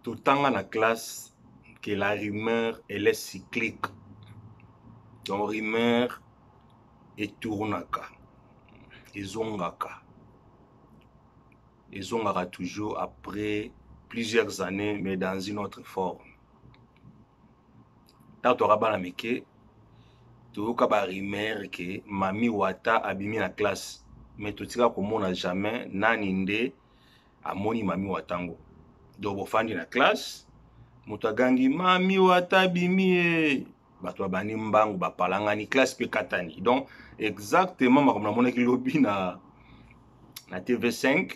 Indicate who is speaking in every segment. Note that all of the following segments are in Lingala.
Speaker 1: totanga na classe que la rumeur elle est cyclique donc rumeur etournaka ezongaka ezongaka toujours après plusieurs années mais dans une autre forme ntango toyaka bana mike toyoka ba rumeur ke mami wata abimi na classe me totika komona jamais nani nde amoni mami wata ngo donc bofandi na classe moto agangi mami wata abimi ye bato babandi mbangu bapalangani classe mpe katani donc exactement makambo namonaki lobi na na tv 5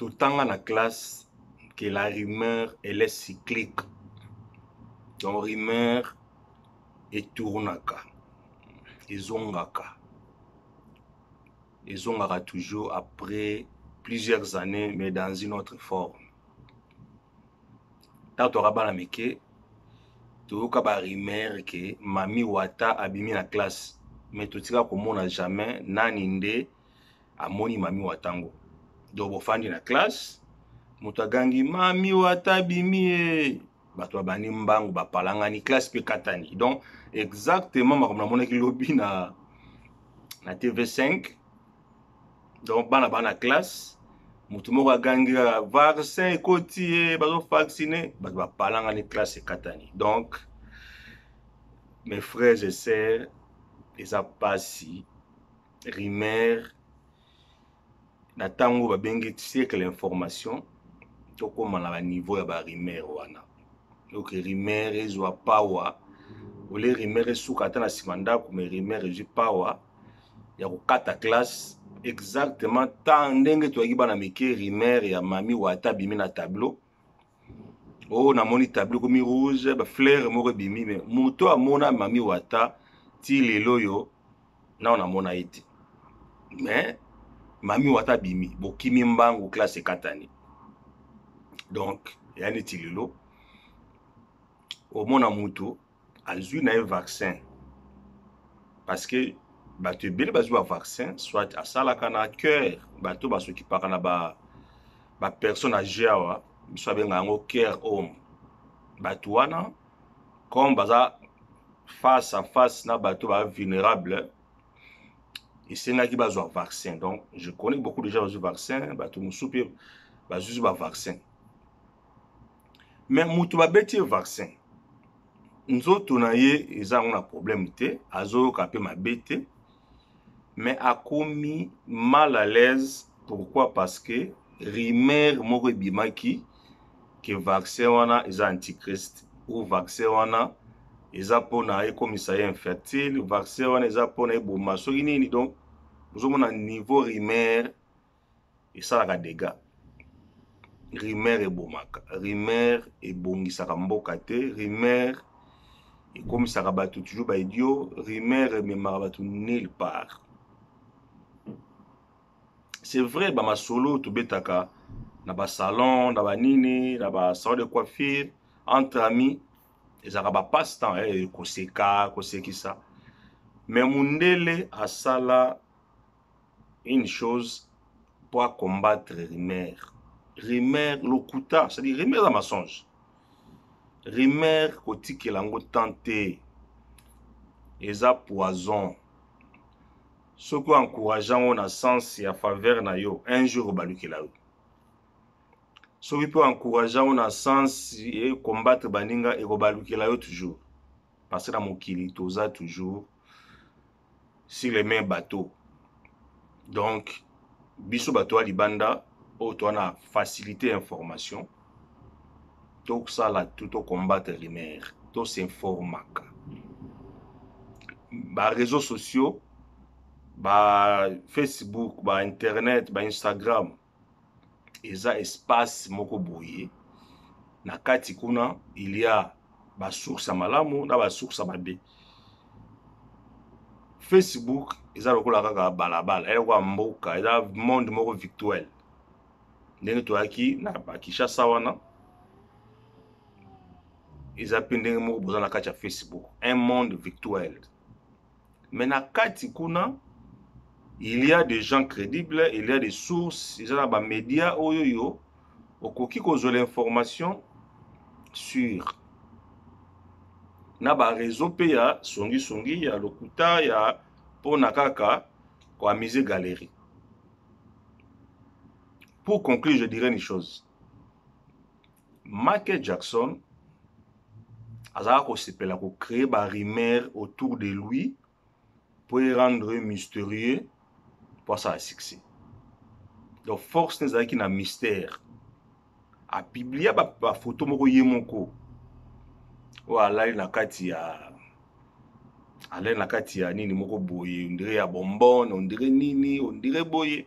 Speaker 1: totanga na classe que la rumeur elle est cyclique donc rumeur etournaka ezongaka ezongaka toujours après plusieurs années mais dans une autre forme ntango toyaka bana mike toyoka ba rumeur ke mami wata abimi na classe mais totika komona jamais nani nde amoni mami wata ngo donc bofandi na classe moto agangi mami wata abimi ye bato babandi mbangu bapalangani classe mpe katani donc exactement makambo namonaki lobi na na tv 5 donc bana bana classe motu moko agangi kaka vaccin ekoti ye bazovaccine bato bapalangani classe ekatani donc mes frères et sœurs eza mpasi rumeur na ntango babengi siècle information tokóma na baniveau ya barumeur wana donc rumeur ezwa power ole rumeur esuka ata na nsima ndako mais rumeur ezwi power ya kokata classe exactement temps ndenge toyaki bana mike rimer ya mami wata abimi na tableau o oh, namoni tableau ekomi rouge bafleur moko ebimi me moto amona mami wata ti lelo oyo nao namona ye te mais mami wata abimi bokimi mbangu classe ekatani donc ya neti lelo omona moto azwi na ye vaccin parce que bato ebele bazwi ba vaccin soit asalaka na cœur bato basokipaka na ba bapersonne age awa biso abenga yango care home bato wana comme baza face à face na bato ba vulnérable esengaki bazwa vaccin donc je connais beaucoup déjà bazwi vaccin bato mosusu mpe bazuzi bavaccin mais mutu babeti ye vaccin nzoto na ye eza yango na problème te azoyoka mpe mabe te mais akomi mal à l'aise pourquoi parce que rumeur moko ebimaki ke vaccin wana eza antichrist ou vaccin wana eza mpona ekomisa ye infertile vaccin wana eza mpona eboma soki nini donc ozomona niveau rumeur esalaka dega rumeur ebomaka rumeur ebongisaka mboka te rumeur ekomisaka bato toujours baidio rumeur ememaka bato nil part c'est vrai bamasolo tobetaka na basalon na banini na basalon de coiffure entre amis ezalaka bapasse temps eh, koseka kosekisa me mundele asala une chose pour combattre rumeur rumeur lokuta c'est à dire rumeur eza mensonge rumeur kotikela yango temps te eza poison soki oencourage yango na sens ya faveur na yo un jour obalukela yo soki mpe oencourage yango na sens e combattre baninga ekobalukela yo toujours parce na mokili toza toujours sur les mains bateau donc biso bato ya libanda oyo toa na facilité ya information tosala tout tocombattre rumeur tosinformaka bareseau sociaux ba facebook ba internet ba instagram eza espace moko boye na kati kuna il y a ba source ya malamu na ba source ya mabe facebook eza lokola kaka balabala eza lokola mboka eza monde moko virtuel ndenge toyaki na bakishasa wana eza mpe ndenge moko boza na kati ya facebook un monde virtuel mais na kati kuna il y a des gens crédibles il y a des sources eza na ba médias oyo yo okoki kozwa l'information sur na ba réseau mpe ya songisongi ya lokuta ya mpona kaka koamise galerie pour conclure je dirais une chose Michael Jackson azalaka kosepela kocree barumeur autour de lui mpo erendre mysterieux mpo asala succès donc force ne ezalaki na mystère apiblia bafoto ba moko ye moko oyo alali na kati ya alali na kati ya nini moko boye ondire ya bombone ondire nini ondire boye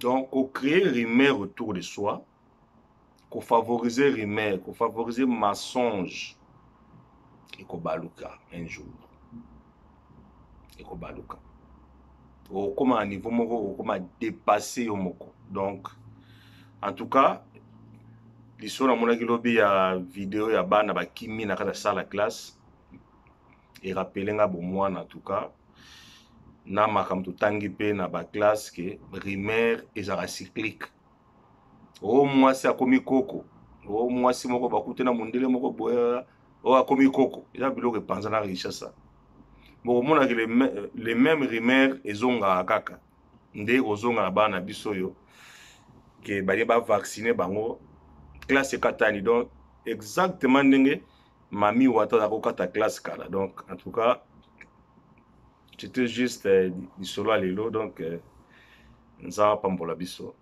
Speaker 1: donc kocree rumeur autour de soi kofavorize rumeur kofavorize mensonge ekobaluka un jour ekobaluka okokoma na niveau moko okokoma dépasse yo moko donc en tout cas lisolo namonaki lobi ya video ya bana bakimi na kati ya sala classe e rappeler nga bo mwana en tout cas na makambo totangi mpe na baclasse ke primaire ezalaka cyclique o oh, mwasi akomi koko o oh, mwasi moko bakute na mondele moko boye oyo oh, akomi koko eza biloko epanza na richessa bokomonaki le même rimaire ezongaka kaka nde kozonga na bana na biso oyo ke baye bavaccine bango classe ekatani donc exactement ndenge Mami wata na kokata glace kala donc en tout cas c'était juste euh, lisolo ya lelo donc euh, nzambe apambola biso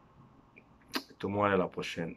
Speaker 1: tomonana la prochaine